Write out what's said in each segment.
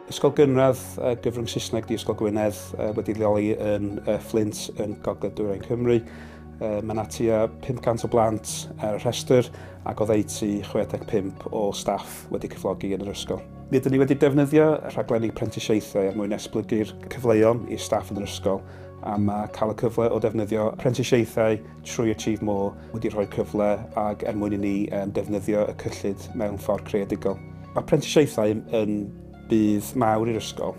Ysgol Gynradd uh, Gyfrwng Saesneg di Ysgol Gwynedd uh, wedi leoli yn uh, Flint yn Gogledd Dwyrain Cymru. Uh, mae yna tua 500 o blant ar y rhestr ac o ddeutu 65 o staff wedi cyflogi yn yr ysgol. Mi ydyn ni wedi defnyddio rhaglenni prentisiaethau er mwyn esblygu'r cyfleon i staff yn yr ysgol a mae cael y cyfle o defnyddio prentisiaethau trwy Achieve More wedi rhoi cyfle ag er mwyn i ni defnyddio y cyllid mewn ffordd creadigol. Mae prentisiaethau yn budd mawr i'r ysgol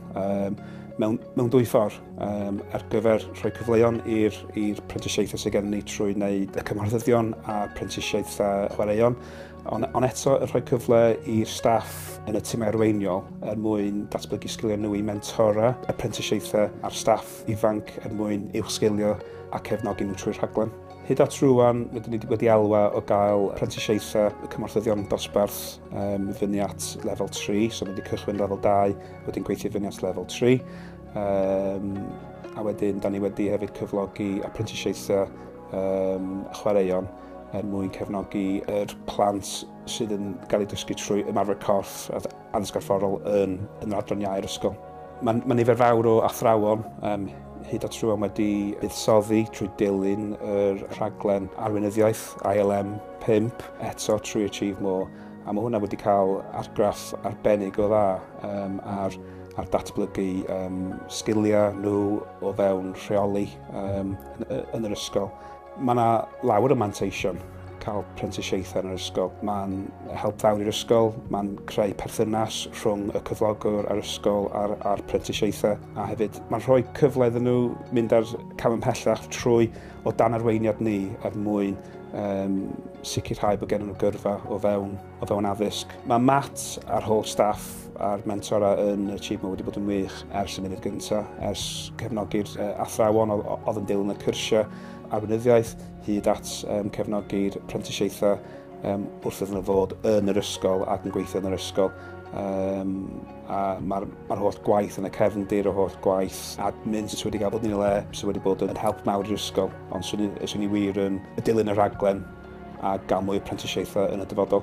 mewn, mewn dwy ffordd um, ar gyfer rhoi cyfleon i'r prentisiaethau sydd gennym ni trwy wneud y cymhorthyddion a prentisiaethau chwaraeon, ond on eto yn rhoi cyfle i'r staff yn y tîmau arweiniol er mwyn datblygu sgiliau nhw i mentora y prentisiaethau a'r staff ifanc er mwyn uwchsgilio a cefnogi nhw trwy'r rhaglen. Hyd at rwan, rydyn ni wedi elwa o gael prentisiaethau y cymorthyddion dosbarth um, fyny at lefel 3, so mae wedi cychwyn lefel 2, wedyn gweithio fyny at lefel 3. Um, a wedyn, da ni wedi hefyd cyflogi apprentisiaethau um, chwaraeon er mwyn cefnogi yr plant sydd yn cael eu dysgu trwy ymarfer corff ansgorfforol yn, yn yr adran iau'r ysgol. Mae, mae nifer fawr o athrawon um, hyd at rhywun wedi buddsoddi trwy dilyn yr rhaglen arweinyddiaeth ILM 5 eto trwy Achieve More a mae hwnna wedi cael argraff arbennig o dda um, ar a'r datblygu um, sgiliau nhw o fewn rheoli um, yn, yn yr ysgol. Mae yna lawer o manteision cael prentisiaethau yn yr ysgol. Mae'n help fawr i'r ysgol, mae'n creu perthynas rhwng y cyflogwr a'r ysgol a'r, a'r prentisiaethau, a hefyd mae'n rhoi cyfle iddyn nhw mynd ar cam ymhellach trwy o dan arweiniad ni er mwyn um, sicrhau bod gennym nhw gyrfa o fewn o fewn addysg. Mae Matt a'r holl staff a'r mentora yn y Achievement wedi bod yn wych ers y munud gyntaf, ers cefnogi'r uh, athrawon oedd yn dilyn y cyrsiau arweinyddiaeth, hyd at um, cefnogi'r prentisiaethau um, wrth iddyn nhw fod yn yr ysgol ac yn gweithio yn yr ysgol. Um, a mae'r ma holl gwaith yn y cefndir, o holl gwaith admin sydd wedi cael bod yn ei le, sydd wedi bod yn help mawr i'r ysgol. Ond swn i, swn i wir yn dilyn y rhaglen a gael mwy o prentisiaethau yn y dyfodol.